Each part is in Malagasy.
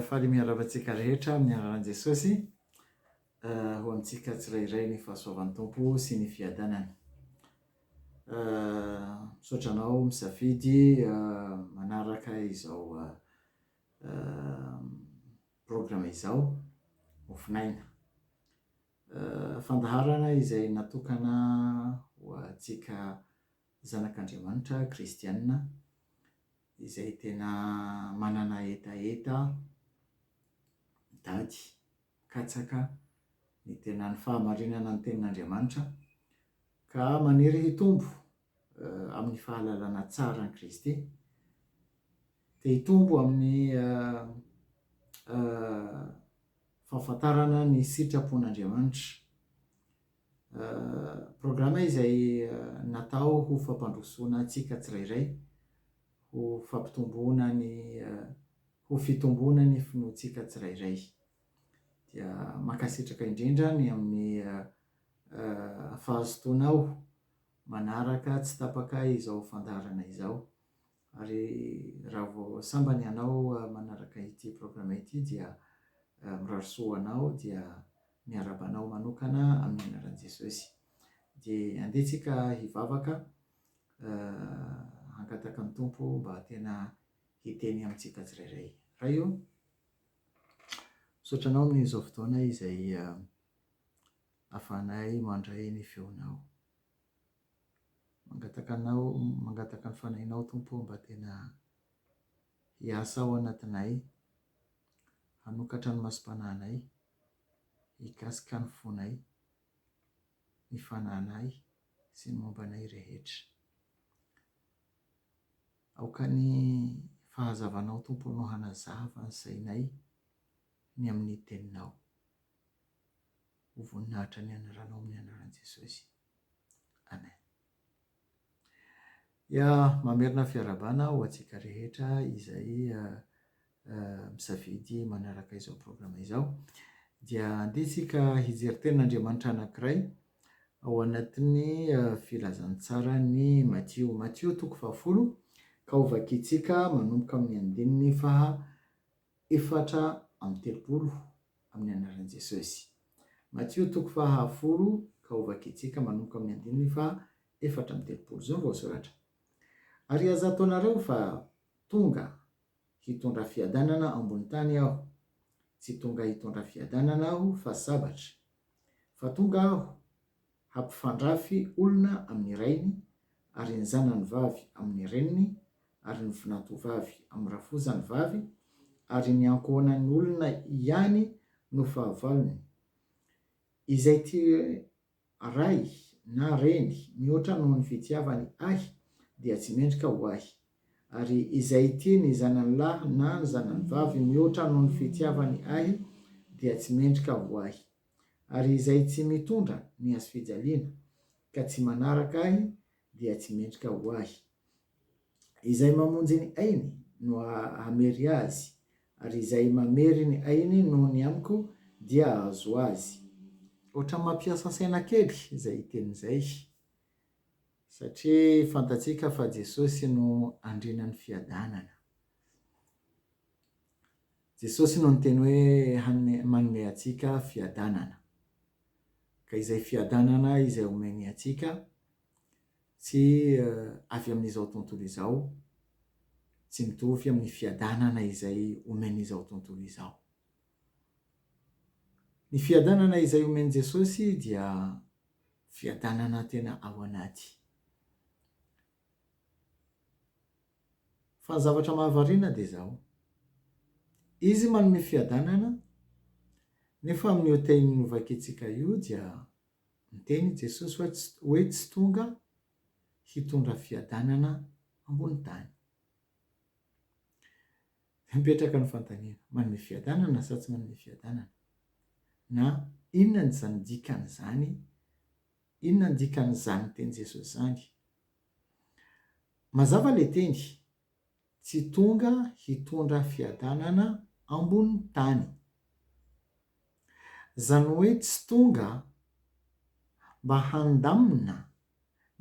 faly miarahaba antsika rehetra amin'ny anaran'i Jesosy eh, ho antsika tsirairay ny fahasoavan'ny tompo sy ny fiadanany eh, misaotra anao misafidy eh, manaraka izao Programa izao ofonaina. Fandaharana izay natokana ho antsika zanak'Andriamanitra kristiana izay tena manana hetaheta, mitady, mikatsaka ny tena ny fahamarinana ny tenin'Andriamanitra ka maniry hitombo amin'ny fahalalana tsara an'i Kristy, dia hitombo amin'ny fahafantarana ny sitrapon'Andriamanitra. Programa izay natao ho fampandrosoana antsika tsirairay, ho fampitomboana ny, ho fitomboana ny finoantsika tsirairay. Dia mankasitraka indrindra ny amin'ny fahazotoanao manaraka tsy tapaka izao fandaharana izao. Ary raha vao sambany ianao manaraka ity programme ity dia mirary soa ho anao dia miarahaba anao manokana amin'ny anaran'i Jesosy. Dia andeha tsika hivavaka hangataka ny Tompo mba tena hiteny amintsika tsirairay. Ray ô, misaotra anao amin'izao fotoana izay Havanay mandray ny feonao. Mangataka anao, mangataka ny fanahinao Tompo ô mba tena hiasa ao anatinay, hanokatra ny masom-panahinay, hikasika ny fonay, ny fanahinay sy ny momba anay rehetra. Aoka ny fahazavanao Tompo no hanazava ny sainay ny amin'ny teninao. ho voninahitra ny anaranao amin'ny anaran'i Jesosy. Amen. Dia mamerina fiarahabana ho antsika rehetra izay misafidy manaraka izao programa izao. Dia andeha isika hijery tenin'Andriamanitra anankiray ao anatin'ny filazantsaran'i Matio. Matio toko fahafolo ka ho vakintsika manomboka amin'ny andininy faha efatra amby telopolo amin'ny anaran'i Jesosy. Matio toko faha folo ka hovakitsika manomboka amin'ny andininy faha efatra amby telopolo izao ny voasoratra. Ary aza ataonareo fa tonga hitondra fiadanana ambony tany aho, tsy tonga hitondra fiadanana aho fa sabatra, fa tonga aho Hampifandrafy olona amin'ny rainy, ary ny zanany vavy amin'ny reniny, ary ny vinantovavy amin'ny rafozany vavy, ary ny ankohonan'ny olona ihany no fahavalony. Izay tia ray na reny mihoatra noho ny fitiavany Ahy dia tsy mendrika ho Ahy, ary izay tia ny zanany lahy na ny zanany vavy mihoatra noho ny fitiavany Ahy dia tsy mendrika ho Ahy. Ary izay tsy mitondra ny hazofijaliana, ka tsy manaraka Ahy, dia tsy mendrika ho Ahy. Izay mamonjy ny ainy no hamery azy, ary izay mamery ny ainy noho ny Amiko dia hahazo azy. Ohatran'ny mampiasa saina kely izay teny izay, satria fantatsika fa Jesosy no Andrianan'ny fiadanana. Jesosy no niteny hoe hanome, manome antsika fiadanana. Ka izay fiadanana izay omeny antsika, tsy avy amin'izao tontolo izao, tsy mitovy amin'ny fiadanana izay omen'izao tontolo izao. Ny fiadanana izay omen'i Jesosy dia fiadanana tena ao anaty. Fa ny zavatra mahavariana dia izao, Izy manome fiadanana, nefa amin'io tehiny novakiantsika io dia niteny i Jesosy hoe tsy hoe tsy tonga hitondra fiadanana ambony tany. Dia mipetraka ny fanontaniana, manome fiadanana sa tsy manome fiadanana? Na inona izany dikan'izany, inona ny dikan'izany tenin'i Jesosy izany? Mazava le teny, tsy tonga hitondra fiadanana ambony tany. Zany hoe tsy tonga mba handamina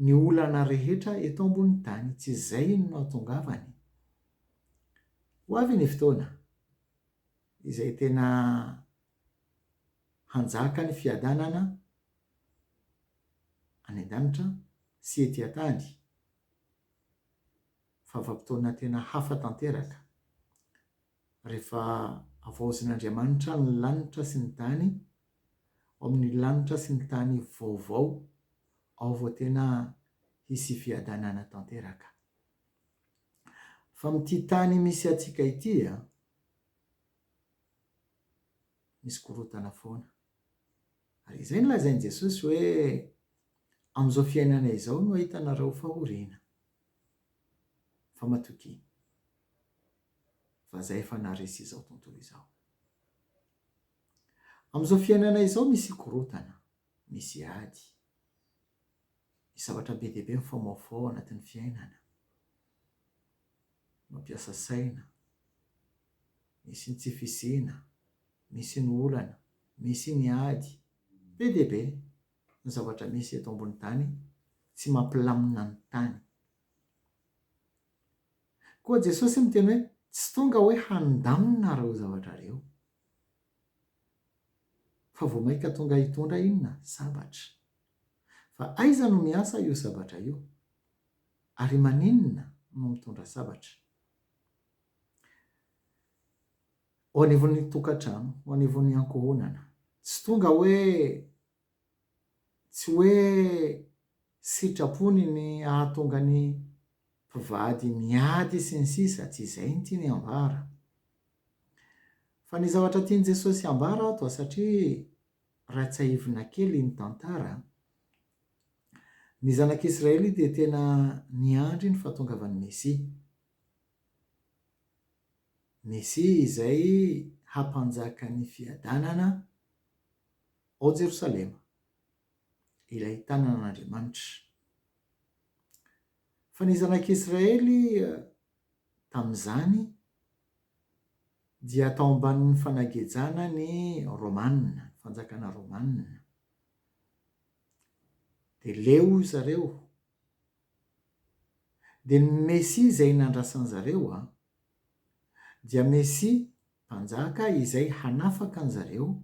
ny olana rehetra eto ambony tany, tsy zay no nahatongavany. Ho avy ny fotoana izay tena Hanjaka ny fiadanana any an-danitra sy ety an-tany. Vavam-potoana tena hafa tanteraka. Rehefa havaozin'Andriamanitra ny lanitra sy ny tany, ao amin'ny lanitra sy ny tany vaovao, ao vao tena hisy fiadanana tanteraka. Fa amin'ity tany misy antsika ity, misy korontana foana. Ary izay no lazain'i Jesosy hoe, Amin'izao fiainana izao no ahitanareo fahoriana. Fa matokia, fa Izaho efa naharesy izao tontolo izao. Amin'izao fiainana izao misy korontana, misy ady, misy zavatra be dia be mifaomaofao ao anatin'ny fiainana, mampiasa saina, misy ny tsy fisiana, misy ny olana, misy ny ady, be dia be ny zavatra misy eto ambony tany tsy mampilamina ny tany. Koa Jesosy miteny hoe tsy tonga hoe handamina ireo zavatra ireo, fa vao mainka tonga hitondra inona? Sabatra. Fa aiza no miasa io sabatra io? Ary maninona no mitondra sabatra? Ho anivon'ny tokantrano, ho anivon'ny ankohonana. Tsy tonga hoe, tsy hoe sitrapony ny hahatonga ny mpivady miady sy ny sisa, tsy izay ny tiany ambara. Fa ny zavatra tian'i Jesosy ambara ato, satria raha tsiahivina kely ny tantara, ny zanak'Israely dia tena niandry ny fahatongavan'ny Mesia. Mesia izay hampanjaka ny fiadanana ao Jerosalema, ilay tanan'Andriamanitra. Fa ny zanak'Israely tamin'izany dia tao ambanin'ny fanagejana ny Romana, fanjakana Romana. Dia leo ry zareo Dia ny Mesia izay nandrasan zareo a. Dia Mesia, Mpanjaka izay hanafaka an zareo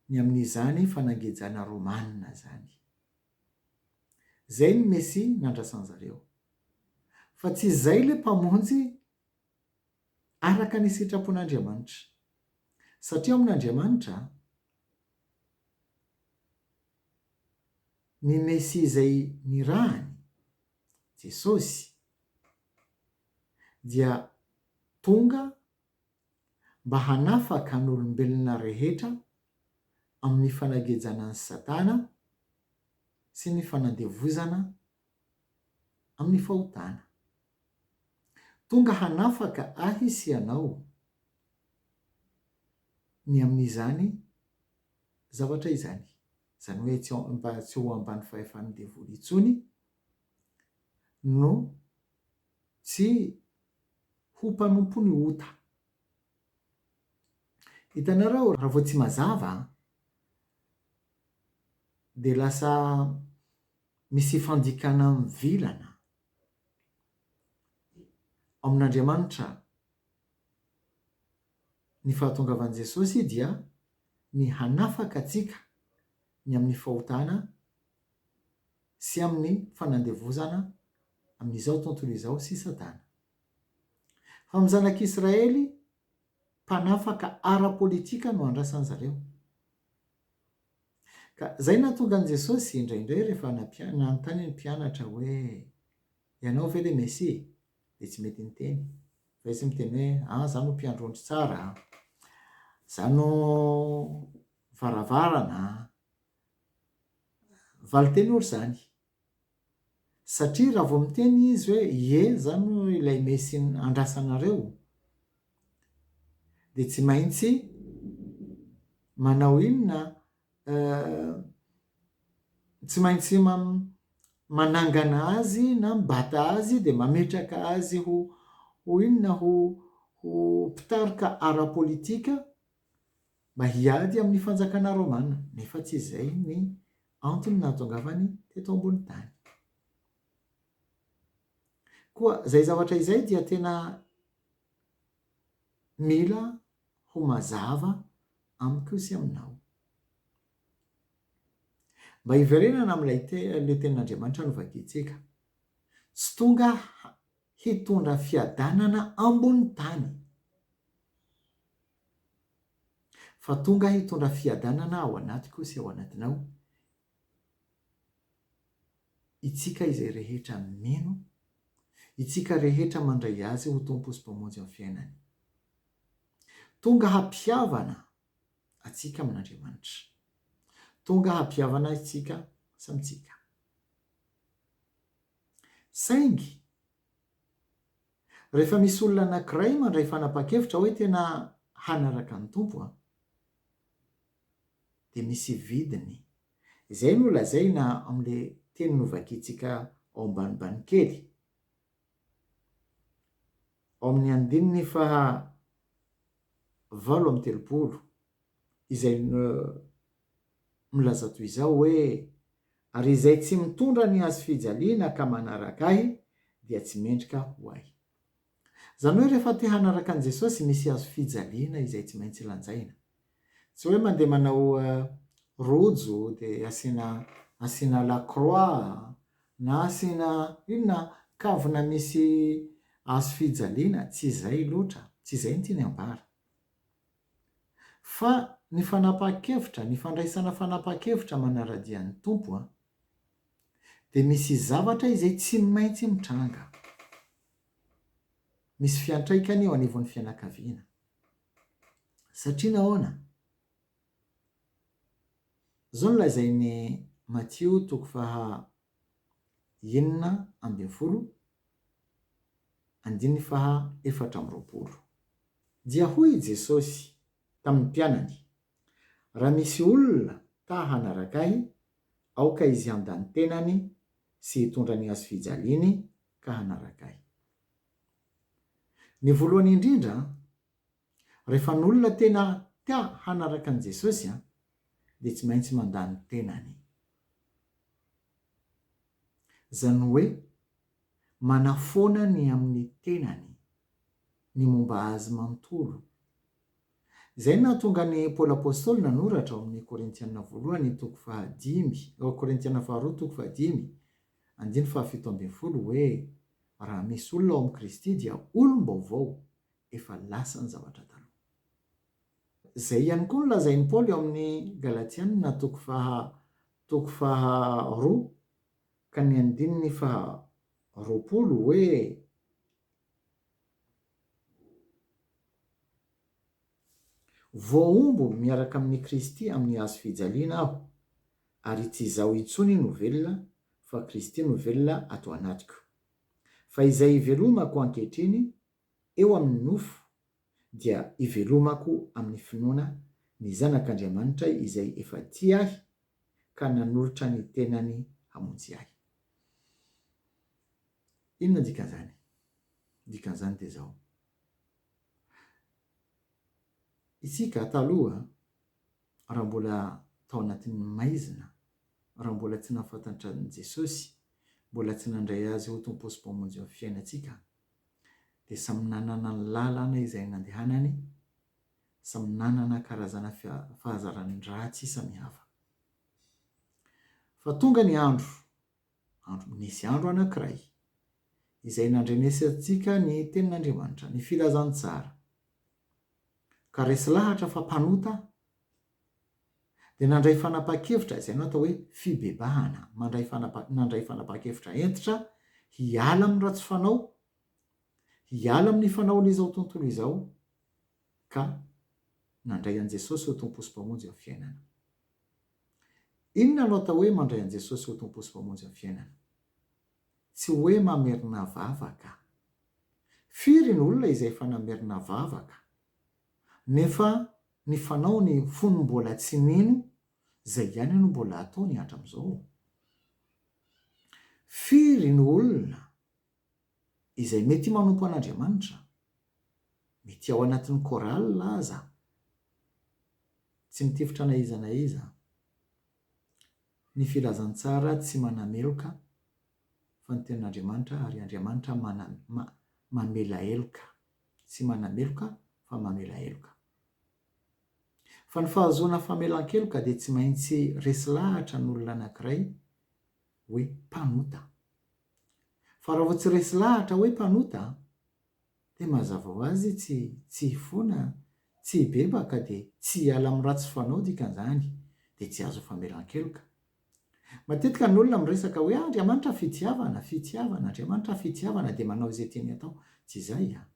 ny amin izany fanangejana romana zany. Zay ny Mesia nandrasan zareo. Fa tsy izay le Mpamonjy araka ny sitrapon Andriamanitra. Satria ao amin Andriamanitra, Ny Mesia izay nirahany, Jesosy, dia tonga mba hanafaka ny olombelona rehetra amin'ny fanagejana an'i Satana sy ny fanandevozana amin'ny fahotana. Tonga hanafaka ahy sy ianao ny amin'izany zavatra izany, izany hoe tsy ao mba tsy ho ambany fahefan'ny devoly intsony no tsy ho mpanompon'ny ota. Hitanareo raha vao tsy mazava an, dia lasa misy fandikana mivilana ao amin'Andriamanitra. Ny fahatongavan'i Jesosy dia ny hanafaka antsika ny amin'ny fahotana sy amin'ny fanandevozana amin'izao tontolo izao sy Satana. Fa amin'ny zanak'Israely mpanafaka ara-politika no andrasan'i zareo. Ka izay no nahatonga an'i Jesosy indraindray rehefa nampian- nanontany ny mpianatra hoe. Ianao ve le Mesia? Dia tsy mety niteny. Fa izy miteny hoe, An, za no mpiandry ondry tsara an! Za no varavarana an! Valin-teny ory izany. Satria raha vao miteny izy hoe, Ie, za no ilay Mesia andrasanareo, dia tsy maintsy manao inona? eh, tsy maintsy manangana azy na mibata azy dia mametraka azy ho ho inona ho ho mpitarika ara-politika mba hiady amin'ny fanjakana romana nefa tsy izay ny antony nahatongavany teto ambony tany koa izay zavatra izay dia tena mila ho mazava amiko sy aminao. Mba hiverenana amin'ilay le Tenin'Andriamanitra novakiantsika. Tsy tonga hitondra fiadanana ambony tany, fa tonga hitondra fiadanana ao anatiko sy ao anatinao Itsika izay rehetra mino, itsika rehetra mandray Azy ho Tompo sy Mpamonjy amin'ny fiainany. Tonga hampihavana atsika amin'Andriamanitra. Tonga hampihavana itsika samy tsika. Saingy, rehefa misy olona anankiray mandray fanapahan-kevitra hoe tena hanaraka ny Tompo aho, dia misy vidiny. Izay no lazaina amin'ilay teny novakiantsika ao ambanimbany kely. Ao amin'ny andininy faha valo amby telopolo, izay milaza toy izao hoe, Ary izay tsy mitondra ny hazofijaliana ka manaraka ahy dia tsy mendrika ho ahy. Izany hoe rehefa te hanaraka an'i Jesosy misy hazofijaliana izay tsy maintsy lanjaina. Tsy hoe mandeha manao rojo dia asiana asiana la croix na asiana inona kavina misy hazofijaliana, tsy izay loatra, tsy izay no tiany ambara. Fa ny fanapahan-kevitra, ny fandraisana fanapahan-kevitra manara-dia ny Tompo dia misy zavatra izay tsy maintsy mitranga. misy fiantraikany eo anivon'ny fianakaviana. Satria nahoana? Izao no lazain'i Matio toko faha enina ambin'ny folo andininy faha efatra amby roapolo. Dia hoy i Jesosy tamin'ny mpianany, Raha misy olona ta hanaraka Ahy, aoka izy handany tenany sy hitondra ny hazofijaliany ka hanaraka ahy. Ny voalohany indrindra, rehefa ny olona tena ta hanaraka an'i Jesosy dia tsy maintsy mandà ny tenany. Izany hoe manafoana ny amin'ny tenany, ny momba azy manontolo. Izay no nahatonga an'i Paoly Apostoly nanoratra ao amin'ny Korintiana voalohany toko fahadimy, Korintiana faharoa toko fahadimy, Andininy fahafito ambin'ny folo hoe raha misy olona ao amin'i Kristy dia olom-baovao, efa lasa ny zavatra taloha. Izay ihany koa no lazain'i Paoly ao amin'ny Galatiana toko faha toko faha roa ka ny andininy faha roapolo hoe. Voahombo miaraka amin'i Kristy amin'ny hazo fijaliana aho, ary tsy izaho intsony no velona, fa Kristy no velona ato anatiko. Fa izay ivelomako ankehitriny eo amin'ny nofo dia ivelomako amin'ny finoana ny Zanak'Andriamanitra izay efa tia ahy ka nanolotra ny tenany hamonjy ahy. Inona dikan'izany? Dikan'izany dia izao. Isika taloha raha mbola tao anatin'ny maizina, raha mbola tsy nahafantatra an'i Jesosy, mbola tsy nandray Azy ho Tompo sy Mpamonjin'ny fiainantsika, dia samy nanana ny lalana izay nandehanany, samy nanana karazana fahazarana ratsy samihafa. Fa tonga ny andro Andro Nisy andro anankiray. Izay nandrenesantsika ny Tenin'Andriamanitra, ny Filazantsara, ka resy lahatra fa mpanota aho, dia nandray fanapahan-kevitra, izay no atao hoe fibebahana, mandray fanapa, nandray fanapahan-kevitra hentitra hiala amin'ny ratsy fanao, hiala amin'ny fanaon'izao tontolo izao, ka nandray an'i Jesosy ho Tompo sy Mpamonjy ny fiainana. Inona no atao hoe mandray an'i Jesosy ho Tompo sy Mpamonjy ny fiainana? Tsy hoe mamerina vavaka. Firy ny olona izay efa namerina vavaka, nefa ny fanaony fony mbola tsy nino, izay ihany no mbola ataony hatramin'izao? Firy ny olona izay mety manompo an'Andriamanitra, mety ao anatin'ny chorale aza, tsy mitifitra na iza na iza. Ny filazantsara tsy manameloka fa ny tenin'Andriamanitra ary Andriamanitra mana, ma, mamela heloka, tsy manameloka fa mamela heloka. Fa ny fahazoana famelan-keloka dia tsy maintsy resy lahatra ny olona anankiray hoe mpanota. Fa raha vao tsy resy lahatra hoe mpanota an! dia mazava ho azy tsy tsy hifona an! tsy hibebaka dia tsy hiala amin'ny ratsy fanao dikan'izany dia tsy azo famelan-keloka. Matetika ny olona miresaka hoe Andriamanitra fitiavana, fitiavana, Andriamanitra fitiavana dia manao izay tiany atao. Tsy izay an!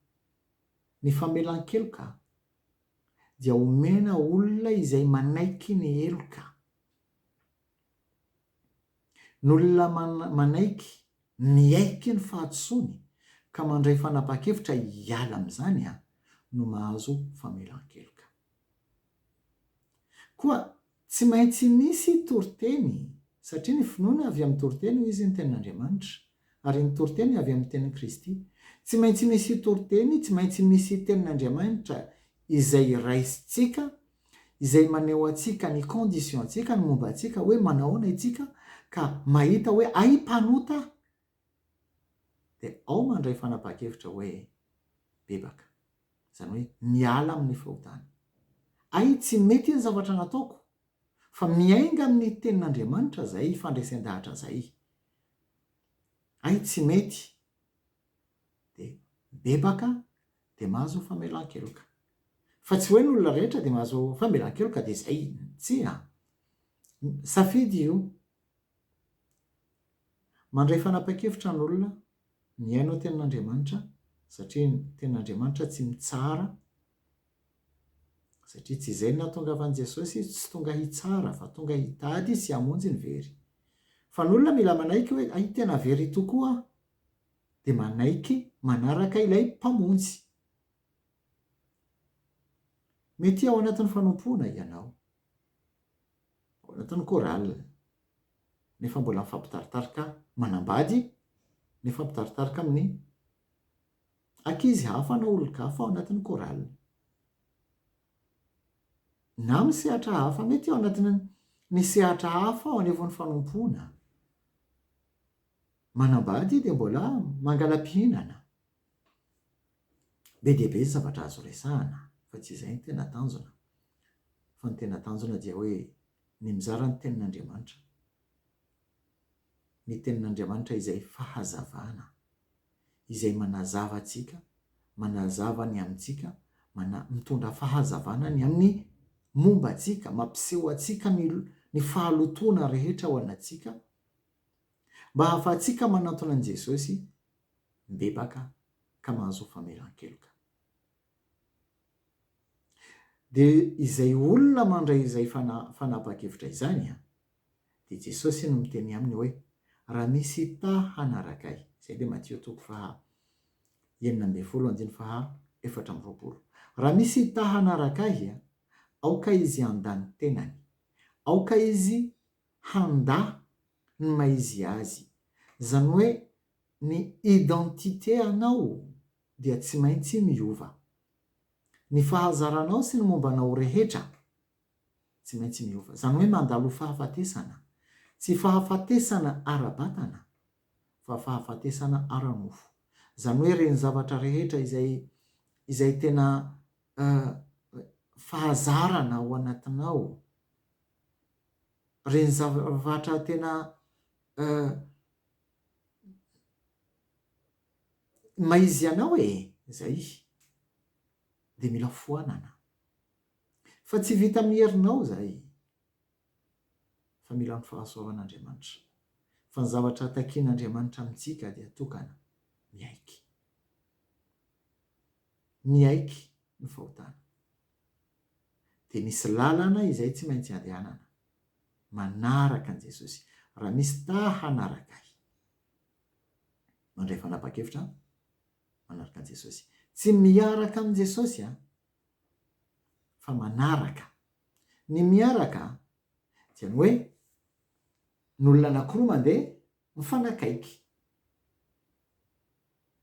Ny famelan-keloka dia omena olona izay manaiky ny heloka. Ny olona manaiky miaiky ny fahadisoany ka mandray fanapahan-kevitra hiala amin'izany no mahazo famelan-keloka. Koa tsy maintsy misy toriteny, satria ny finoana avy amin'ny toriteny, hoy izy, ny Tenin'Andriamanitra, ary ny toriteny avy amin'ny Tenin'i Kristy. Tsy maintsy misy toriteny, tsy maintsy misy Tenin'Andriamanitra izay raisintsika izay maneho antsika ny condition-tsika, ny momba antsika hoe manao ahoana itsika ka mahita hoe hay mpanota aho, dia ao mandray fanapahan-kevitra hoe bebaka, izany hoe miala amin'ny fahotana. Hay tsy mety ny zavatra nataoko, fa miainga amin'ny tenin'Andriamanitra izay, fandresen-dahatra izay. Hay tsy mety dia mibebaka dia mahazo famelan-keloka. Fa tsy hoe ny olona rehetra dia mahazo famelan-keloka dia izay, tsia. Safidy io. Mandray fanapan-kevitra ny olona, mihaino ny tenin'Andriamanitra, satria ny tenin'Andriamanitra tsy mitsara, satria tsy izay no nahatongavan'i Jesosy izy, tsy tonga hitsara fa tonga hitady sy hamonjy ny very. Fa ny olona mila manaiky hoe hay tena very tokoa aho, dia manaiky manaraka ilay Mpamonjy. Metia ao anatin'ny fanompoana ianao, ao anatin'ny chorale, nefa mbola mifampitaritarika manambady, mifampitaritarika amin'ny ankizy hafa na olon-kafa ao anatin'ny chorale. Na amin'ny sehatra hafa, mety ao anatin'ny sehatra hafa ao anivon'ny fanompoana. Manambady ity dia mbola mangala-pihinana. Be dia be ny zavatra azo resahana fa tsy izay no tena tanjona. Fa ny tena tanjona dia hoe ny mizara ny tenin'Andriamanitra. Ny tenin'Andriamanitra izay fahazavana, izay manazava antsika, manazava ny amintsika, mana, mitondra fahazavana ny amin'ny momba antsika, mampiseho antsika ny ny fahalotoana rehetra ao anatsika, Mba hahafahantsika manantona an'i Jesosy mibebaka ka mahazo famelan-keloka. Dia izay olona mandray izay fanapahan-kevitra izany dia Jesosy no miteny aminy hoe, Raha misy ta hanaraka Ahy. Izay dia Matio toko faha enina ambin'ny folo andininy faha efatra amby roapolo. Raha misy ta hanaraka Ahy, aoka izy handany tenany. Aoka izy handà ny maha izy azy. Izany hoe ny identité anao dia tsy maintsy miova. Ny fahazaranao sy ny momba anao rehetra tsy maintsy miova. Izany hoe mandalo fahafatesana. Tsy fahafatesana ara-batana fa fahafatesana ara-nofo. Izany hoe ireny zavatra rehetra izay izay tena fahazarana ao anatinao Ireny zavatra tena maha izy anao e! Izay. Dia mila foanana. Fa tsy vita amin'ny herinao izay. Fa mila ny fahasoavan'Andriamanitra. Fa ny zavatra takian'Andriamanitra amintsika dia tokana, miaiky. Miaiky ny fahotana. Dia misy lalana izay tsy maintsy andehanana. Manaraka an'i Jesosy. Raha misy ta hanaraka Ahy. Mandray fanapahan-kevitra manaraka an'i Jesosy. Tsy miaraka amin'i Jesosy an! Fa manaraka. Ny miaraka dia ny hoe, ny olona anankiroa mandeha, Mifanakaiky.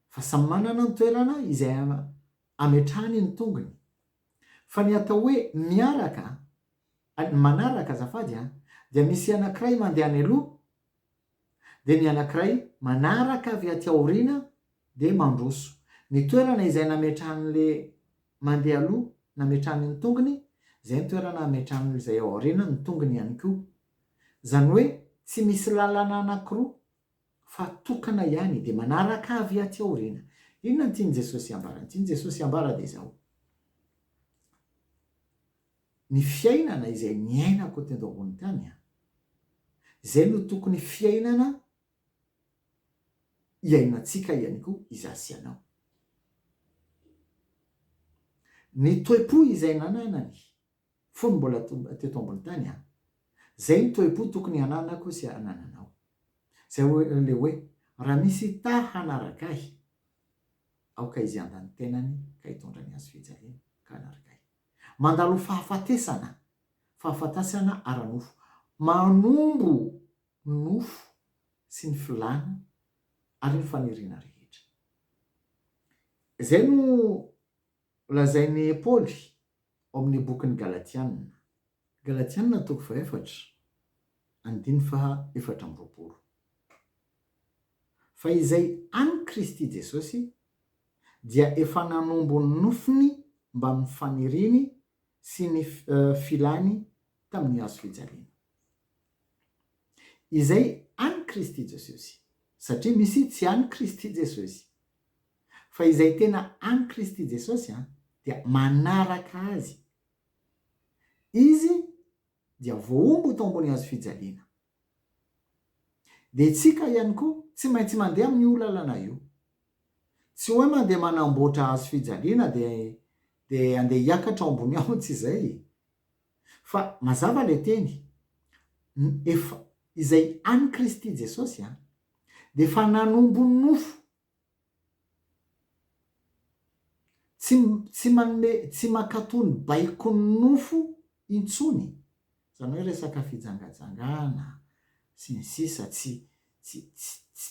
Fa samy manana ny toerana izay ametrahany ny tongony. Fa ny atao hoe miaraka, ny manaraka azafady a, dia misy anankiray mandeha any aloha, dia ny anankiray manaraka avy aty aoriana dia mandroso. Ny toerana izay nametrahan'ilay mandeha aloha, nametrahany ny tongony, izay ny toerana ametrahan'izay ao aoriana ny tongony ihany koa. Izany hoe tsy misy lalana anankiroa fa tokana ihany dia manaraka avy aty aoriana. Inona no tian'i Jesosy ambara? Ny tian'i Jesosy ambara dia izao, ny fiainana izay niainako teto ambony tany, izay no tokony fiainana iainantsika ihany koa izaho sy ianao. Ny toe-po izay nananany fony mbola teto ambony tany an! Zay ny toe-po tokony hananako sy hanananao. Zay le hoe raha misy ta hanaraka ahy aoka izy handa ny tenany ka hitondra ny hazo fijaliana ka hanaraka ahy. Mandalo fahafatesana, fahafatasana ara-nofo. Manombo ny nofo sy ny filàna ary ny faniriana rehetra. Zay no Lazain'i Paoly ao amin'ny bokin'ny Galatiana, Galatiana toko fahaefatra, andininy faha efatra amby roapolo, fa izay an'i Kristy Jesosy dia efa nanombo ny nofiny mbamin'ny faniriany sy ny filany tamin'ny hazo fijaliana. Izay an'i Kristy Jesosy, satria misy tsy an'i Kristy Jesosy. Fa izay tena any Kristy Jesosy an, dia manaraka Azy. Izy dia voahombo tao ambony hazo fijaliana. Dia tsika ihany koa tsy maintsy mandeha amin' io lalana io. Tsy hoe mandeha manamboatra hazo fijaliana dia dia andeha hiakatra ao ambony ao tsy izay e. Fa mazava ilay teny, ny efa izay any Kristy Jesosy an, dia efa nanombo nofo. Tsy tsy manome tsy mankatò ny baikon'ny nofo intsony. Izany hoe resaka fijangajangana sy ny sisa tsy tsy tsy tsy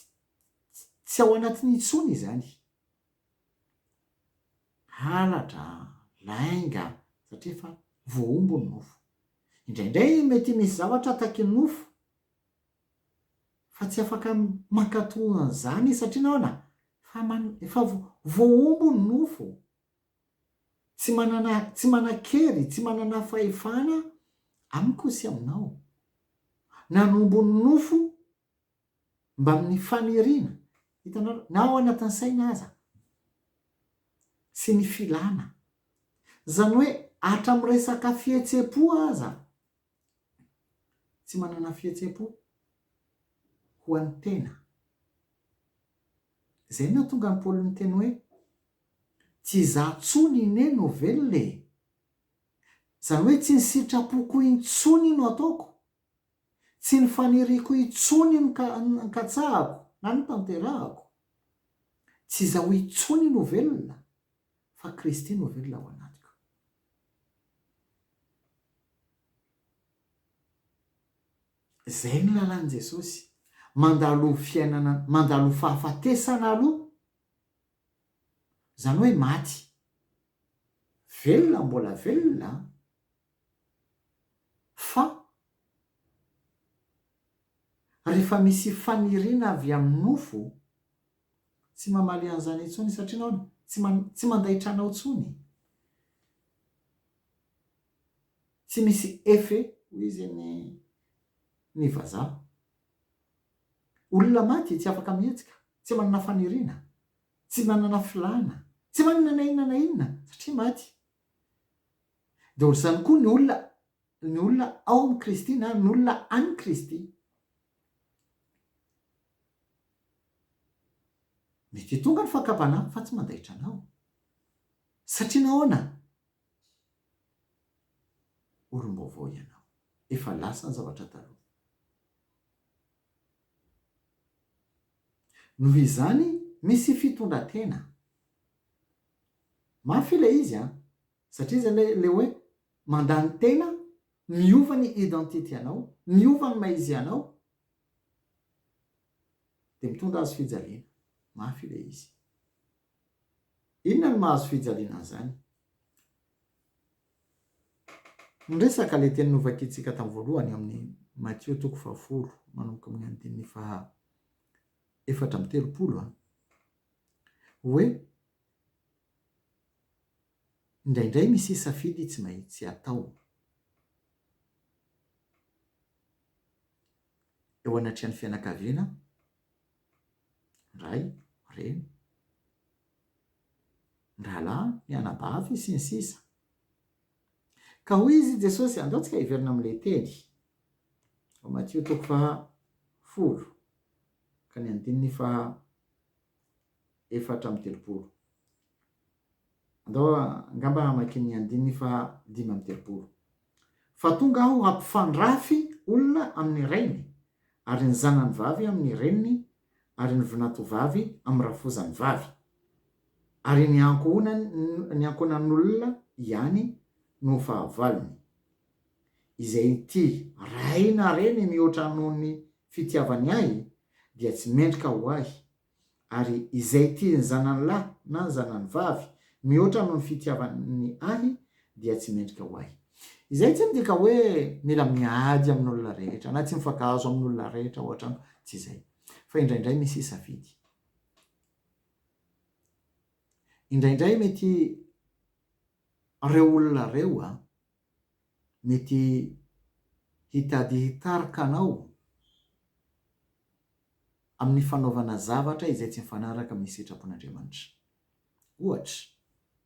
tsy ao anatiny intsony izany. Halatra, lainga satria efa voahombo ny nofo. Indraindray mety misy zavatra ataky ny nofo. fa tsy afaka mankato an'izany satria nahoana? Efa man, efa voahombo ny nofo, tsy manana, tsy manan-kery, tsy manana fahefana amiko sy aminao. Nanombo ny nofo mbamin'ny faniriana, hitanareo, na ao anatin'ny saina aza, sy ny filana. Izany hoe hatramin'ny resaka fihetsem-po aza. tsy manana fihetsem-po ho an'ny tena. Izay no nahatonga an'i Paoly niteny hoe, Tsy izaho intsony anie no velona e! Izany hoe tsy ny sitrapoko intsony no ataoko, tsy ny faniriako intsony no katsahako na no tanterahako. Tsy izaho intsony no velona, fa Kristy no velona ao anatiko. Izay no lalan'i Jesosy. Mandalo fiainana, mandalo fahafatesana aloha, izany hoe maty. Velona mbola velona an! Fa rehefa misy faniriana avy amin'ny nofo, tsy mamaly an'izany intsony satria ianao no tsy man, tsy mandaitra anao intsony. Tsy misy effet, hoy izy ny, ny vazaha. Olona maty tsy afaka mihetsika, tsy manana faniriana, tsy manana filàna, tsy manana na inona na inona satria maty. Dia ohatr'izany koa ny olona, ny olona ao amin'i Kristy na ny olona an'i Kristy. Mety hitonga ny fankabana amiko fa tsy mandaitra anao. Satria nahoana? Olom-baovao ianao. Efa lasa ny zavatra taloha. Noho izany, misy fitondran-tena. Mafy ilay izy an! Satria izay ilay ilay hoe mandany tena, miova ny identity-anao, miova ny maha izy anao, Dia mitondra hazo fijaliana. Mafy ilay izy. Inona no maha-hazo fijaliana an'izany? Niresaka ilay teny novakiantsika tamin'ny voalohany ao amin'ny Matio toko fahafolo manomboka amin'ny andininy faha efatra amby telopolo a. Hoe indraindray misy safidy tsy maintsy atao. eo anatrehan'ny fianakaviana, ray, reny, rahalahy, mianabavy, sy ny sisa Ka hoy izy i Jesosy, andao tsika hiverina amin'ilay teny ao Matio toko faha folo ka ny andininy faha efatra amby telopolo. Andao angamba hamaky ny andininy faha dimy amby telopolo. Fa tonga aho hampifandrafy olona amin'ny rainy, ary ny zanany vavy amin'ny reniny, ary ny vinantovavy amin'ny rafozany vavy, ary ny ankohonany, ny ankohonan'olona ihany no ho fahavalony. Izay ity ray na reny mihoatra noho ny fitiavany ahy dia tsy mendrika ho ahy, Ary izay tia ny zanany lahy na ny zanany vavy mihoatra noho ny fitiavany ahy dia tsy mendrika ho ahy. Izay tsy midika hoe mila miady amin'olona rehetra na tsy mifankahazo amin'olona rehetra ao an-trano, tsy izay. Fa indraindray misy safidy. Indraindray mety ireo olona ireo mety hitady hitarika anao amin'ny fanaovana zavatra izay tsy mifanaraka amin'ny sitrapon'Andriamanitra. Ohatra,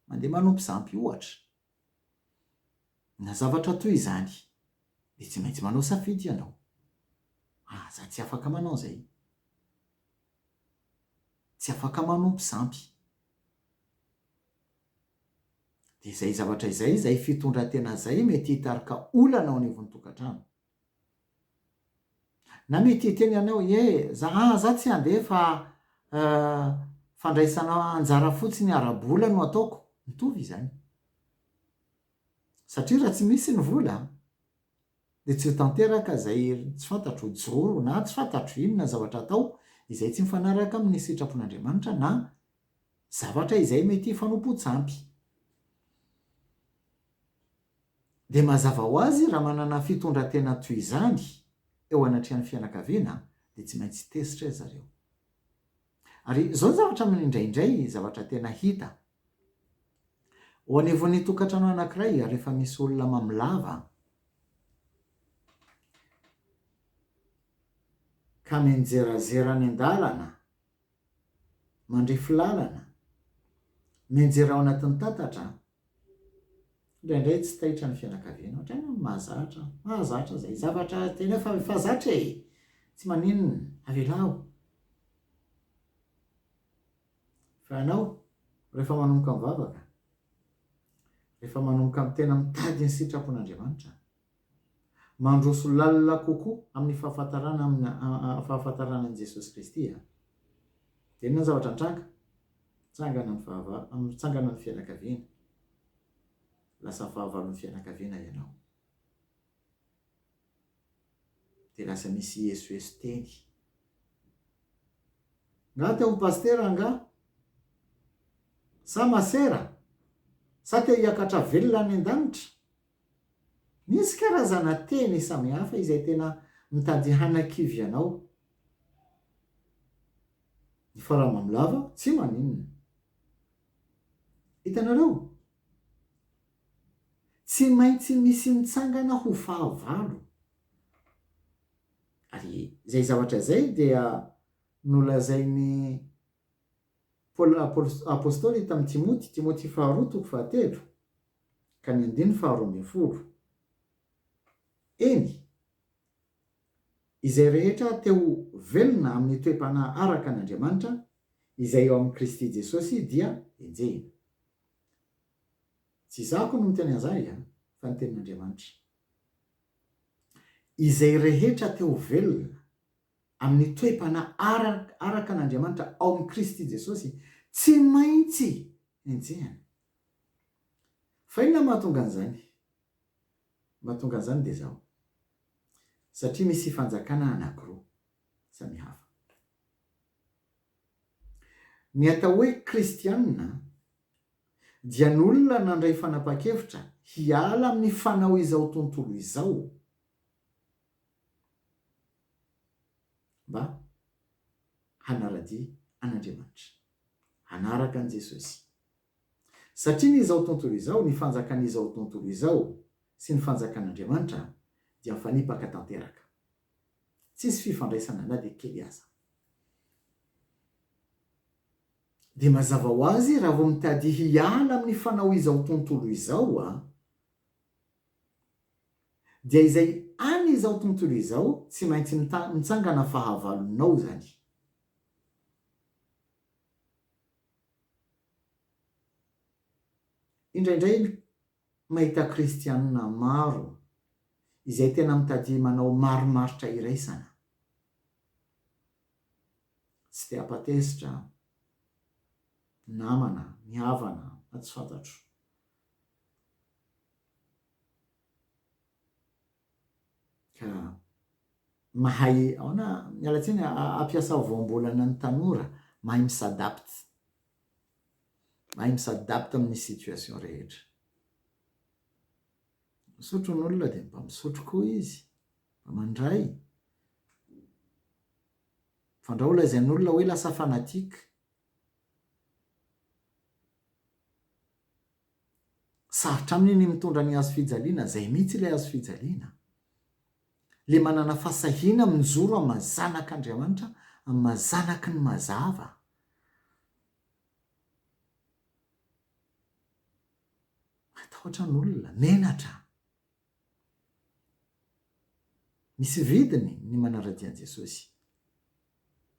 mandeha manompo zampy ohatra, na zavatra toy izany, dia tsy maintsy manao safidy ianao. Aza tsy afaka manao izay. Tsy afaka manompo zampy. Dia izay zavatra izay, izay fitondran-tena izay mety hitarika olana ao anivon'ny tokantrano. Na mety hiteny ianao, ie, za, ah, za tsy handeha fa, eh, fandraisana anjara fotsiny ara-bola no ataoko. Mitovy izany. Satria raha tsy misy ny vola, dia tsy ho tanteraka izay tsy fantatro ho joro na tsy fantatro inona zavatra atao izay tsy mifanaraka amin'ny sitrapon'Andriamanitra na zavatra izay mety hifanompoan-tsampy. Dia mazava ho azy raha manana fitondran-tena toy izany eo anatrehan'ny fianakaviana dia tsy maintsy tezitra ry zareo. Ary izao ny zavatra mino indraindray, zavatra tena hita. Ao anivon'ny tokantrano anankiray, rehefa misy olona mamilava, ka mianjerazera any an-dalana mandrefy lalana, mianjera ao anatin'ny tatatra, indraindray tsy taitra ny fianakaviana, ohatrany hoe mahazatra, mahazatra izay zavatra teneno fa efa zatra e! tsy maninona, avelao. Fa ianao, rehefa manomboka mivavaka, rehefa manomboka tena mitady ny sitrapon'Andriamanitra, mandroso lalina kokoa amin'ny fahafantarana amin'ny fahafantarana an'i Jesosy Kristy a! Dia inona ny zavatra nitranga? Nitsangana ny fahavalo, nitsangana ny fianakaviana. Lasa fahavalon'ny fianakaviana ianao. Dia lasa misy hiesoeso teny. Nga te ho pasitera angaha? Sa masera? Sa te hiakatra velona any an-danitra? Misy karazana teny samihafa izay tena mitady hanakivy anao. Ny fara mamolava tsy maninona. Hitanareo? Tsy maintsy misy mitsangana ho fahavalo. Ary izay zavatra izay dia nolazain'i Paoly Apostoly tamin'i Timoty, Timoty faharoa toko fahatelo. ka ny andininy faharoa ambin'ny folo, Eny, izay rehetra te ho velona amin'ny toe-panahy araka an'Andriamanitra, izay eo amin'i Kristy Jesosy, dia enjehina. Tsy izaho akory no miteny an'izay, fa ny Tenin'Andriamanitra. Izay rehetra te ho velona amin'ny toe-panahy araka an'Andriamanitra ao amin'i Kristy Jesosy, tsy maintsy enjehina. Fa inona no mahatonga an'izany? Mahatonga an'izany dia izao, satria misy fanjakana anankiroa samihafa. Ny atao hoe kristiana dia ny olona nandray fanapahan-kevitra hiala amin'ny fanao izao tontolo izao mba hanara-dia an'Andriamanitra, hanaraka an'i Jesosy. Satria ny izao tontolo izao, ny fanjakan'izao tontolo izao sy ny fanjakan'Andriamanitra dia mifanipaka tanteraka. Tsisy fifandraisana na dia kely aza. Dia mazava ho azy raha vao mitady hiala amin'ny fanao izao tontolo izao aho, dia izay any izao tontolo izao tsy maintsy mitsangana fahavalonao izany. Indraindray mahita kristiana maro izay tena mitadiha manao marimaritra iraisana. Tsy te hampatezitra namana, ny havana na tsy fantatro. ka mahay aona miala tsiny ampiasao voambolana ny tanora mahay mi s'adapte mahay mi s'adapte amin'ny situation rehetra misotro ny olona dia mba misotro koa izy mba mandray fandrao holazain'olona hoe lasa fanatique Sarotra aminy ny mitondra ny hazo fijaliana, izay mihitsy ilay hazo fijaliana. Ilay manana fahasahiana mijoro amin'ny maha zanak'Andriamanitra, amin'ny maha zanaky ny mazava. Matahotra ny olona, menatra. Misy vidiny ny manara-dia an'i Jesosy.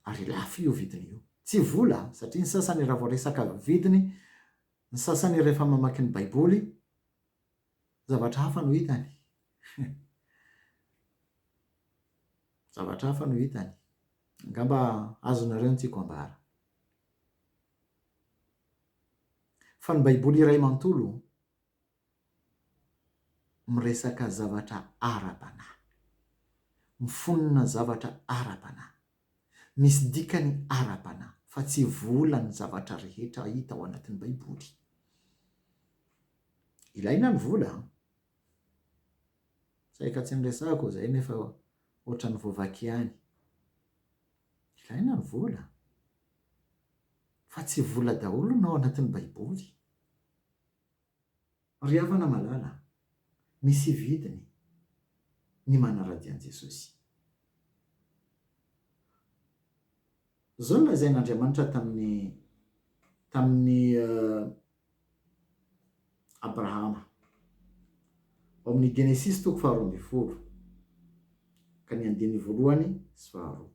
Ary lafo io vidiny io. Tsy vola, satria ny sasany raha vao resaka vidiny, Ny sasany rehefa mamaky ny Baiboly, zavatra hafa no hitany. Zavatra hafa no hitany. Angamba azonareo ny tiako ambara. Fa ny Baiboly iray manontolo miresaka zavatra ara-panahy, mifonona zavatra ara-panahy, misy dikany ara-panahy fa tsy vola ny zavatra rehetra hita ao anatin'ny Baiboly. Ilaina ny vola an! Saika tsy niresahako izay nefa ohatran'ny voavaky ihany. Ilaina ny vola an! Fa tsy vola daholo no ao anatin'ny Baiboly. Ry havana malala, misy vidiny ny manaradia an'i Jesosy. Izao no lazain'Andriamanitra tamin'i tamin'i Abrahama, ao amin'ny Genesisy toko faharoa ambin'ny folo ka ny andininy voalohany sy faharoa.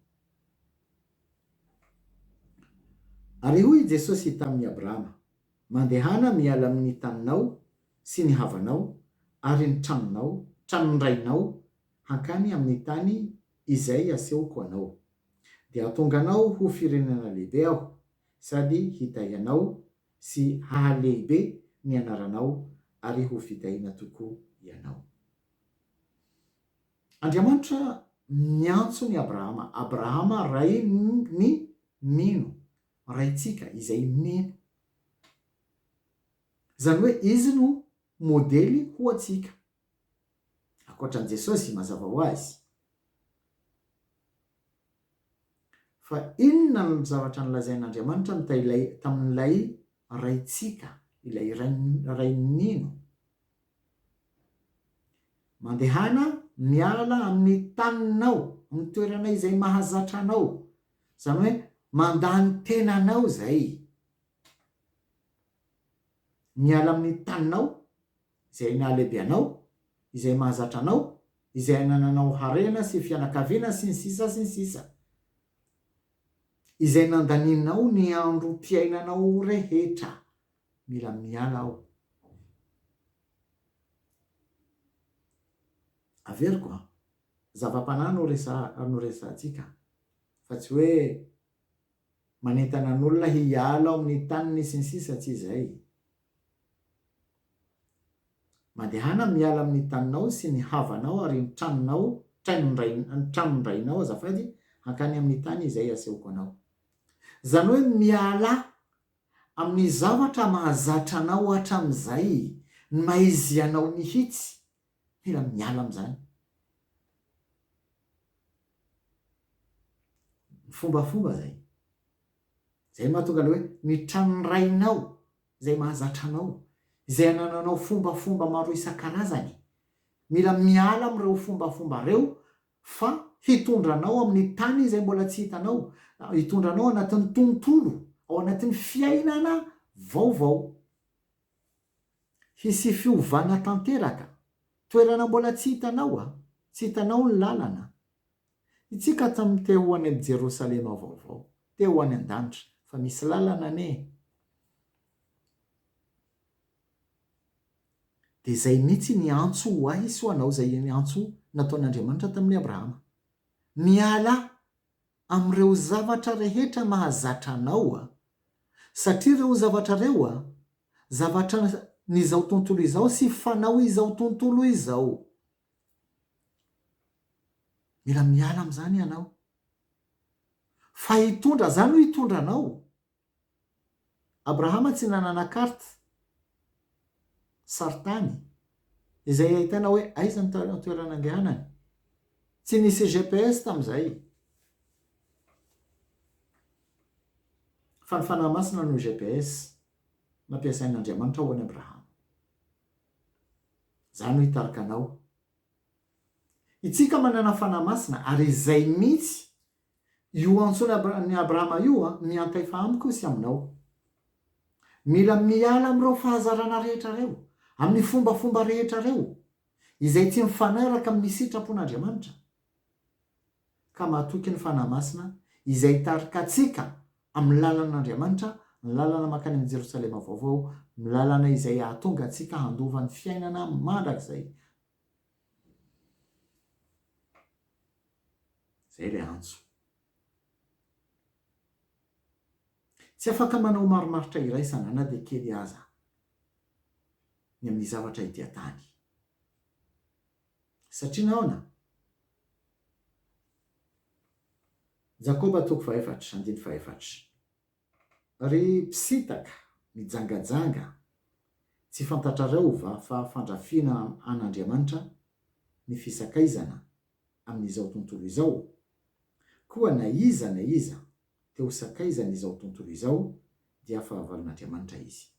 Ary hoy i Jesosy tamin'i Abrahama, Mandehana miala amin' ny taninao sy ny havanao ary ny tranonao, tranon-drainao, hankany amin' ny tany izay asehoko anao. Dia hatonga anao ho firenena lehibe aho, sady hitahy anao, sy hahalehibe ny anaranao, ary hofidahina tokoa ianao. Andriamanitra niantso an' i Abrahama, Abrahama rain' ny mino, Raintsika izay mino. Izany hoe Izy no modely ho antsika. Ankoatra an'i Jesosy, mazava ho azy. Fa inona ny zavatra nolazain'Andriamanitra tailay, tamin'ilay Raintsika, ilay Ray, Ray nino? Mandehana miala amin'ny taninao, amin'ny toerana izay mahazatra anao, Izany hoe mandany tenanao izay. Miala amin'ny taninao, izay nahalehibe anao, izay mahazatra anao, izay anananao harena sy fianakaviana sy ny sisa sy ny sisa. Izay nandanianao ny androm-piainanao rehetra. Mila miala aho. Averiko an. Zava-panahy no resaha no resahantsika fa tsy hoe manentana ny olona hiala ao amin'ny taniny sy ny sisa tsy izay. Mandehana miala amin'ny taninao sy ny havanao ary ny tranonao ny tranon-drainao azafady hankany amin'ny tany izay asehoko anao. Izany hoe mialà amin'ny zavatra mahazatra anao hatramin'izay ny mahaizy anao mihitsy Tena miala amin'izany. Ny fombafomba izay. Izay no mahatonga ilay hoe ny tranon'ny rainao izay mahazatra anao, izay anananao fombafomba maro isan-karazany. Mila miala amin'ireo fombafomba ireo fa hitondra anao amin'ny tany izay mbola tsy hitanao, hitondra anao anatin'ny tontolo, ao anatin'ny fiainana vaovao. Hisy fiovana tanteraka. Toerana mbola tsy hitanao a! Tsy hitanao ny lalana. Itsika tam te ho any am Jerosalema vaovao. Te ho any an-danitra. Fa misy lalana anie e! Dia izay mihitsy ny antso ho ahy sy ho anao, izay antso nataon'Andriamanitra tamin'i Abrahama. Mialà! amin'ireo zavatra rehetra mahazatra anao a! satria ireo zavatra ireo a! zavatra n'izao tontolo izao sy fanao izao tontolo izao. Mila miala amin'izany ianao. Fa hitondra, za no hitondra anao. Abrahama tsy nanana carte sarintany izay ahitana hoe aiza ny toerana andehanany. Tsy nisy GPS tamin'izay fa ny Fanahy Masina no GPS nampiasain'Andriamanitra ho an'i Abrahama. Izaho no hitarika anao. Itsika manana Fanahy Masina ary izay mihitsy Io antsoin' ny Abrahama io miantaifa amiko sy aminao. Mila miala amin'ireo fahazarana rehetra ireo, amin'ny fombafomba rehetra ireo izay tsy mifanaraka amin'ny sitrapon'Andriamanitra, ka matoky ny Fanahy Masina izay hitarika antsika amin'ny lalan'Andriamanitra, ny lalana mankany amin'ny Jerosalema Vaovao, ny lalana izay hahatonga antsika handova ny fiainana mandrakizay Izay ilay antso. Tsy afaka manao marimaritra iraisana na dia kely aza ny amin'ny zavatra ety an-tany. Satria nahoana? Jakoba toko fahefatra, andininy fahefatra. Ry mpisintaka, mijangajanga, tsy fantatrareo va fa fandrafiana an'Andriamanitra ny fisakaizana amin'izao tontolo izao? Koa na iza na iza te ho sakaizan'izao tontolo izao dia fahavalon'Andriamanitra izy.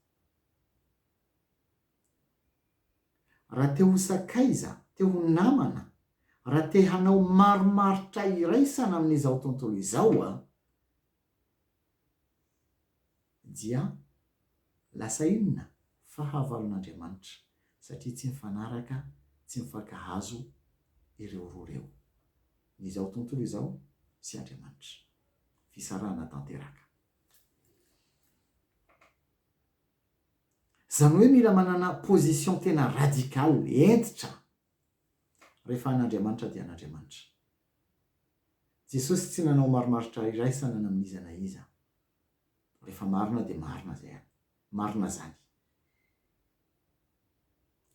Raha te ho sakaiza, te ho namana, raha te hanao marimaritra iraisana amin'izao tontolo izao, dia lasa inona? Fahavalon'Andriamanitra, satria tsy mifanaraka, tsy mifankahazo ireo roa ireo, ny izao tontolo izao sy Andriamanitra. Fisarahana tanteraka. Izany hoe mila manana position tena radical, hentitra, rehefa an'Andriamanitra dia an'Andriamanitra. Jesosy tsy nanao marimaritra iraisana na amin'iza na iza. Rehefa marina dia marina izay an. Marina izany.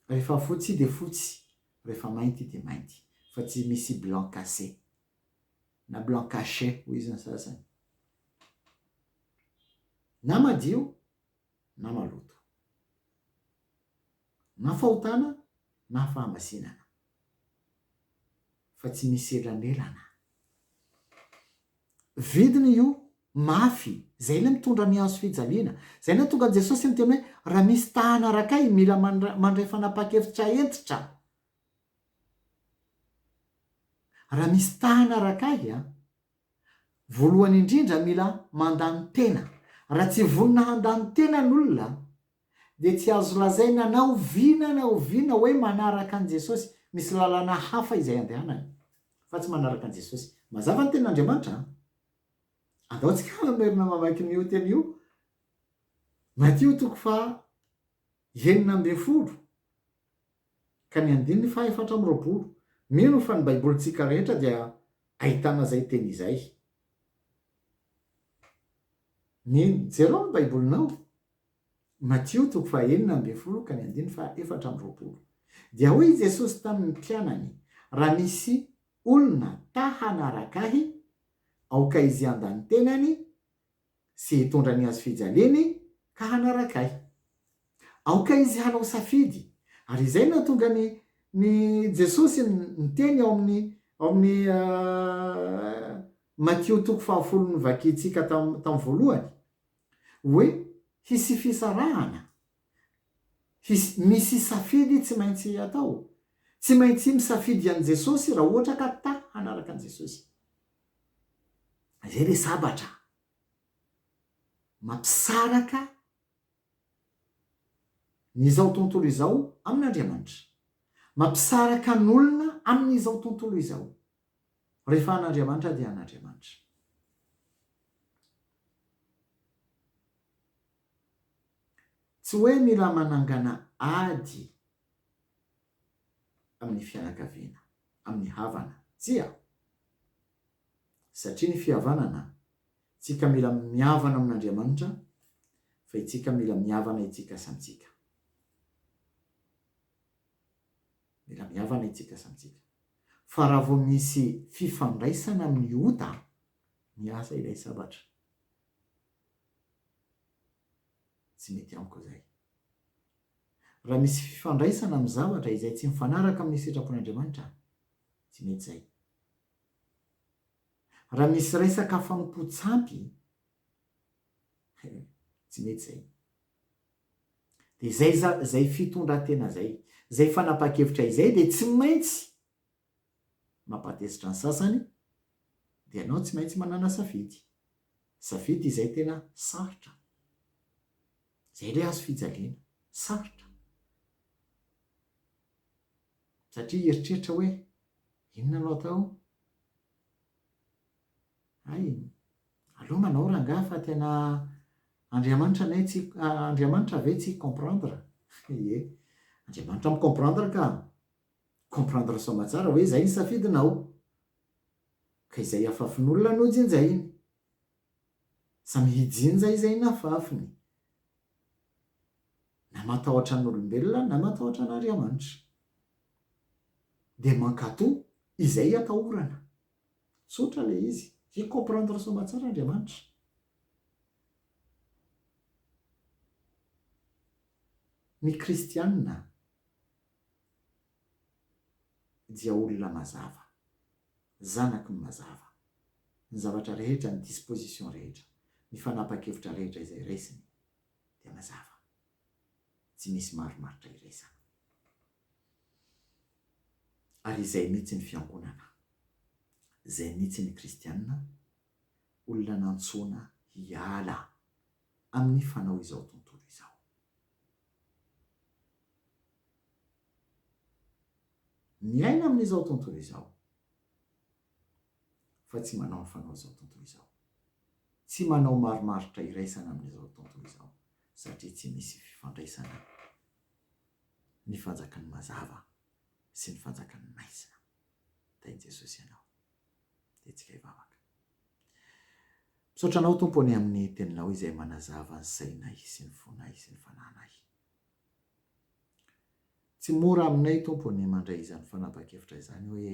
Rehefa fotsy dia fotsy, rehefa mainty dia mainty. Fa tsy misy blanc cassé. Na blanc caché hoy izy ny sasany. Na madio na maloto. Na fahotana na fahamasinana. fa tsy misy elanelana. Vidiny io mafy, zay ilay mitondra ny hazo fijaliana. Zay nahatonga an'i Jesosy niteny hoe raha misy ta hanaraka ahy mila mandray fanapahan-kevitra hentitra. Raha misy ta hanaraka ahy an, voalohany indrindra mila mandany tena. Raha tsy vonona handany tena ny olona dia tsy azo lazaina na oviana na oviana hoe manaraka an'i Jesosy, misy lalana hafa izay andehanany fa tsy manaraka an'i Jesosy. Mazava ny tenin'Andriamanitra an! Andao tsika hamerina mamaky an'io teny io, Matio toko faha enina ambin'ny folo ka ny andininy faha efatra amby roapolo. Mino fa ny Baibolintsika rehetra dia ahitana izay teny izay. Mino? Jerao ny Baibolinao. Matio toko fahenina ambin'ny folo ka ny andininy fahaefatra amby roapolo. Dia hoy i Jesosy tamin' ny mpianany, Raha misy olona ta hanaraka Ahy, aoka izy handa ny tenany sy hitondra ny hazofijaliany ka hanaraka Ahy. Aoka izy hanao safidy. Ary izay no nahatonga an' i Jesosy niteny ao amin' ny Matio toko fahafolo novakintsika tamin'ny voalohany. Hoe hisy fisarahana? Hisy, misy safidy tsy maintsy atao. Tsy maintsy misafidy an'i Jesosy raha ohatra ka ta hanaraka an'i Jesosy. Izay ilay sabatra mampisaraka ny izao tontolo izao amin'Andriamanitra. Mampisaraka ny olona amin'izao tontolo izao. Rehefa an'Andriamanitra dia an'Andriamanitra. Tsy hoe mila manangana ady amin'ny fianakaviana, amin'ny havana. Tsia. Satria ny fihavanana, tsika mila mihavana amin'Andriamanitra, fa itsika mila mihavana itsika samy tsika. Mila mihavana itsika samy tsika. Fa raha vao misy fifandraisana amin'ny ota, miasa ilay sabatra. Tsy mety amiko izay. Raha misy fifandraisana amin'ny zavatra izay tsy mifanaraka amin'ny sitrapon'Andriamanitra, tsy mety izay. Raha misy resaka fanompoan-tsampy, tsy mety izay. Dia izay izay fitondran-tena izay, izay fanapahan-kevitra izay dia tsy maintsy mampatezitra ny sasany, dia ianao tsy maintsy manana safidy. Safidy izay tena sarotra. Izay ilay hazo fijaliana. Sarotra. Satria hieritreritra hoe, inona no atao? Hay, aleo manao rangahy fa tena Andriamanitra ne tsy Andriamanitra ve tsy comprendre? Ye, Andriamanitra mi comprendre ka! Comprendre sao matsara hoe izay ny safidinao! Ka izay afafin'olona no jinjainy! Samy hijinja izay nafafiny! Na matahotra an'olombelona na matahotra an'Ariamanitra! Dia mankato izay atahorana! Tsotra ilay izy. Hi comprendre soma tsara Andriamanitra. Ny kristiana dia olona mazava. Zanaky ny mazava. Ny zavatra rehetra, ny disposition rehetra, ny fanapan-kevitra rehetra izay resiny dia mazava. Tsy misy marimaritra iresana. Ary izay mihitsy ny fiangonana. Izay mihitsy ny kristiana, olona nantsoina hiala amin'ny fanao izao tontolo izao. Miaina amin'izao tontolo izao, fa tsy manao ny fanaon'izao tontolo izao. Tsy manao marimaritra iraisana amin'izao tontolo izao, satria tsy misy fifandraisana ny fanjakan'ny mazava sy ny fanjakan'ny maizina. Tahin'i Jesosy ianao. Dia tsika hivavaka. Misaotra Anao, Tompo, ny amin'ny Teninao izay manazava ny sainay sy ny fonay sy ny fanahinay. Tsy mora aminay, Tompo, ny mandray izany fanapan-kevitra izany hoe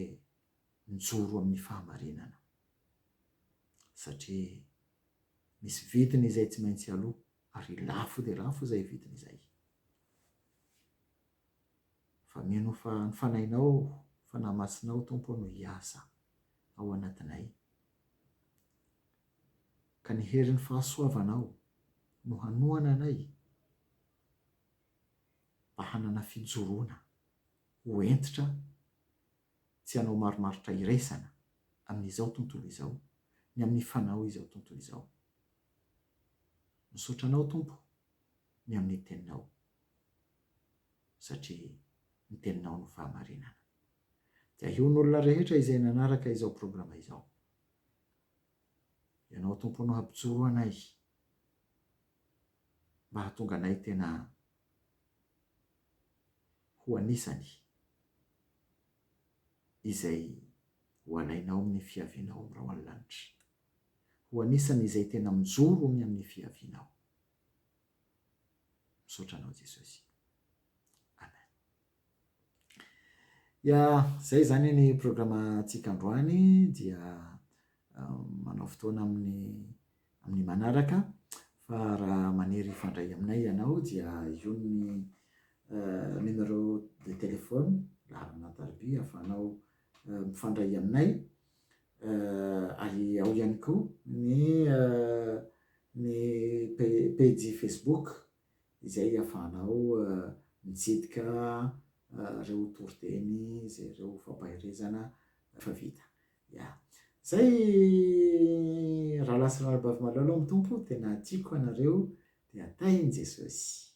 mijoro amin'ny fahamarinana. Satria misy vidiny izay tsy maintsy aloa Ary lafo dia lafo izay vidiny izay. Fa mino fa ny Fanahinao, Fanahy Masinao, Tompo ô, no hiasa ao anatinay. Ka ny herin'ny fahasoavanao no hanohana anay mba hanana fijoroana ho hentitra tsy hanao marimaritra iraisana amin'izao tontolo izao, ny amin'ny Fanao izao tontolo izao. Misaotra anao Tompo ny amin'ny teninao satria ny teninao no fahamarinana. Dia ahion'olona rehetra izay nanaraka izao programa izao. Ianao Tompo no hampijoro anay mba hahatonga anay tena ho anisany izay ho alainao amin'ny fiavianao amin'irao any lanitra. ho anisan' izay tena mijoro ony amin' ny fihaviana aho. Misaotra anao Jesosy. Amen. Ya, zay zany ny programa tsika androany dia manao fotoana amin'ny amin'ny manaraka fa raha maniry hifandray aminay ianao dia io ny numero de téléphone laharana an-tariby ahafahanao mifandray aminay ary ao ihany koa ny ny pejy Facebook izay ahafahanao mitsidika ireo toriteny izay ireo fampaherezana efa vita. Ya. Izay rahalahy sy rahalabavy malala ao amin'ny Tompo, tena tiako anareo, dia tahin'i Jesosy.